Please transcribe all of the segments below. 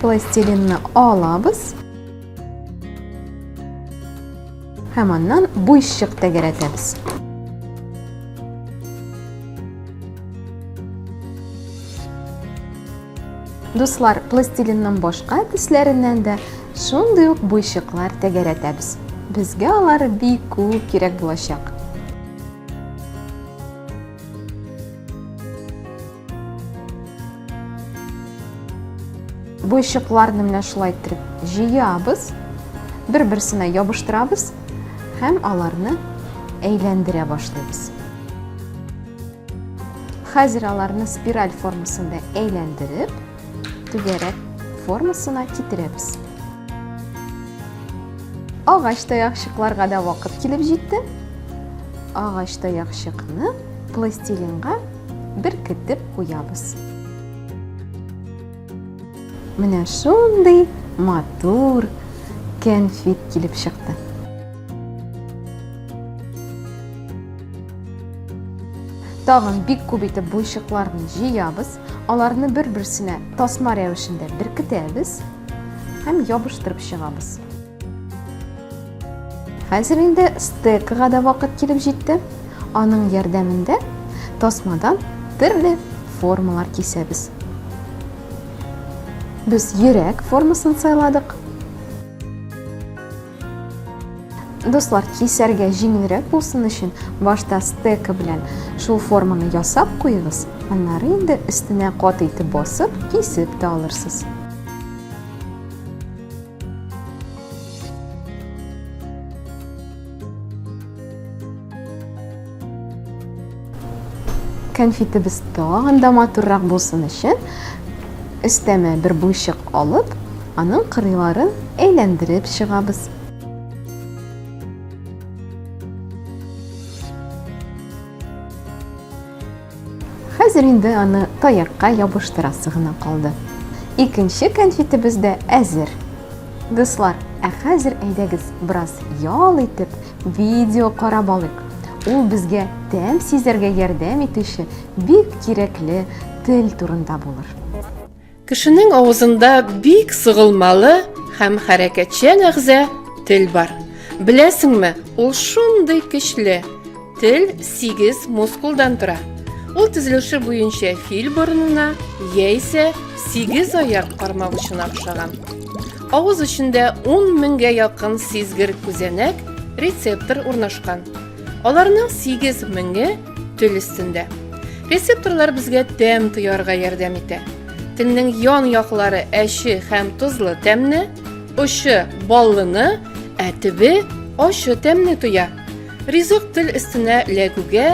пластилинны алабыз һәм аннан буйчык тәгәрәтәбез дуслар пластилиннан башка төсләреннән дә шундый ук буйчыклар тәгәрәтәбез безгә алар бик күп кирәк булачак Буйчыкларны менә шулай иттереп җыябыз, бер-берсенә ябыштырабыз һәм аларны әйләндерә башлыйбыз. Хәзер аларны спираль формасында әйләндереп, түгәрәк формасына китерәбез. Агач таякчыкларга да вакыт килеп җитте. Агач таякчыкны пластилинга беркетеп куябыз. Менә шундый матур кәнфит килеп чыкты. Тагын бик күп итеп буйчыкларны җыябыз, аларны бер-берсенә тасма рәвешендә беркетәбез һәм ябыштырып чыгабыз. Хәзер инде стекага да вакыт килеп җитте. Аның ярдәмендә тасмадан төрле формалар кисәбез. Без йөрәк формасын сайладык. Дуслар, кисәргә җиңелрәк булсын өчен, башта стека белән шул форманы ясап куегыз, аннары инде өстенә кат итеп басып, кисеп тә алырсыз. Кәнфитебез тагын да матуррак булсын өчен өстәмә бер буйчык алып, аның кырыйларын әйләндереп чыгабыз. Хәзер инде аны таякка ябыштырасы гына калды. Икенче кәнфитебез дә әзер. Дуслар, ә хәзер әйдәгез бераз ял итеп, видео карап алыйк. Ул безгә тәм сизәргә ярдәм итүче бик кирәкле тел турында булыр. Кешенең авызында бик сыгылмалы һәм хәрәкәтчән әгъза тел бар. Беләсеңме, ул шундый көчле. Тел 8 мускулдан тора. Ул төзелеше буенча фил борынына яисә 8 аяк кармак очына охшаган. Авыз эчендә 10 меңгә якын сизгер күзәнәк, рецептор урнашкан. Аларның 8 меңе Тел өстендә. Рецепторлар безгә тәм тоярга ярдәм итә. Телнең ян яклары әче һәм тозлы тәмне, очы баллыны, ә төбе ачы тәмне тоя. Ризык тел өстенә ләгүгә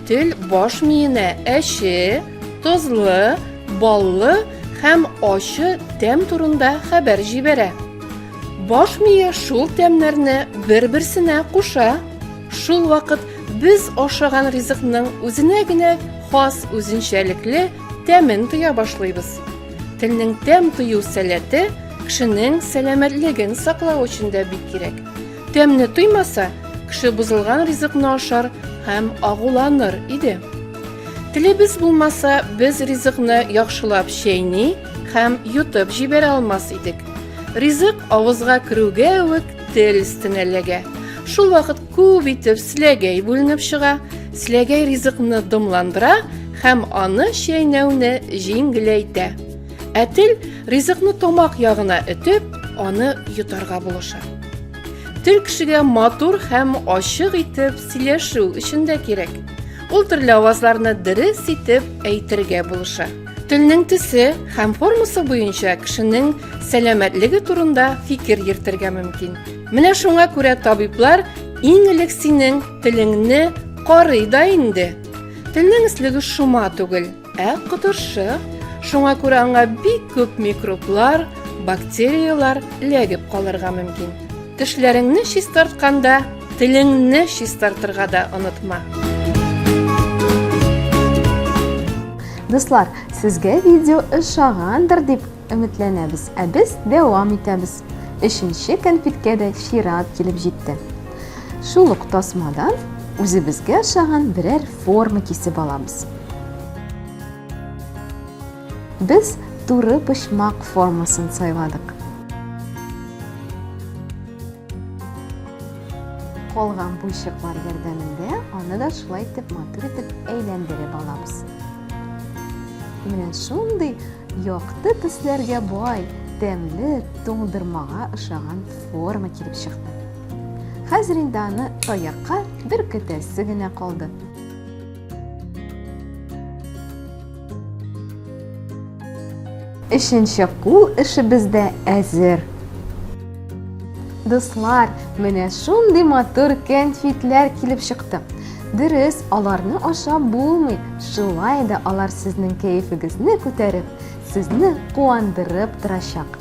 тел баш миенә әче, тозлы, баллы һәм ачы тәм турында хәбәр җибәрә. Баш мие шул тәмнәрне бер-берсенә куша. Шул вакыт без ашаган ризыкның үзенә генә хас үзенчәлекле тәмен тоя башлыйбыз. Телнең тәм тою сәләте кешенең сәламәтлеген саклау өчен дә бик кирәк. Тәмне тоймаса, кеше бозылган ризыкны ашар һәм агуланыр иде. Телебез булмаса, без ризыкны яхшылап чәйни һәм йотып җибәрә алмас идек. Ризык авызга керүгә үк Тел өстенә ләгә. Шул вакыт күп итеп сләгәй бүленеп чыга. Сләгәй ризыкны дымландыра һәм аны чәйнәүне җиңеләйтә. Ә тел ризыкны тамак ягына этеп, аны йотарга булыша. Тел кешегә матур һәм ачык итеп сөйләшү өчен дә кирәк. Ул төрле авазларны дөрес итеп әйтергә булыша. Телнең төсе һәм формасы буенча кешенең сәламәтлеге турында фикер йөртергә мөмкин. Менә шуңа күрә табиблар иң элек синең телеңне карый да инде. Телнең эслеге шома түгел, ә котыршы. Шуңа күрә аңа бик күп микроблар, бактерияләр ләгеп калырга мөмкин. Тешләреңне чистартканда Телеңне чистартырга да онытма. Дуслар, сезгә видео ошагандыр дип өметләнәбез, ә без дәвам итәбез. Өченче конфеткә дә чират килеп җитте. Шул ук тасмадан үзебезгә ошаган берәр форма кисеп алабыз. Без туры почмак формасын сайладык. Калган буйчыклар ярдәмендә аны да шулай итеп матур итеп әйләндереп алабыз. Менә шундый якты төсләргә бай, тәмле туңдырмага ошаган форма килеп чыкты. Хәзер инде аны таякка бер көтәсе генә калды. Өченче кул эшебез дә әзер. Дуслар, менә шундый матур кәнфитләр килеп чыкты. Дөрес, аларны ашап булмый. Шулай да алар сезнең кәефегезне күтәреп, сезне куандырып торачак.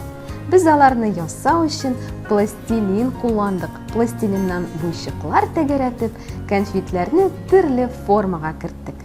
Без аларны ясау өчен пластилин кулландык. Пластилиннан буйчыклар тәгәрәтеп, Кәнфитләрне төрле формага керттек.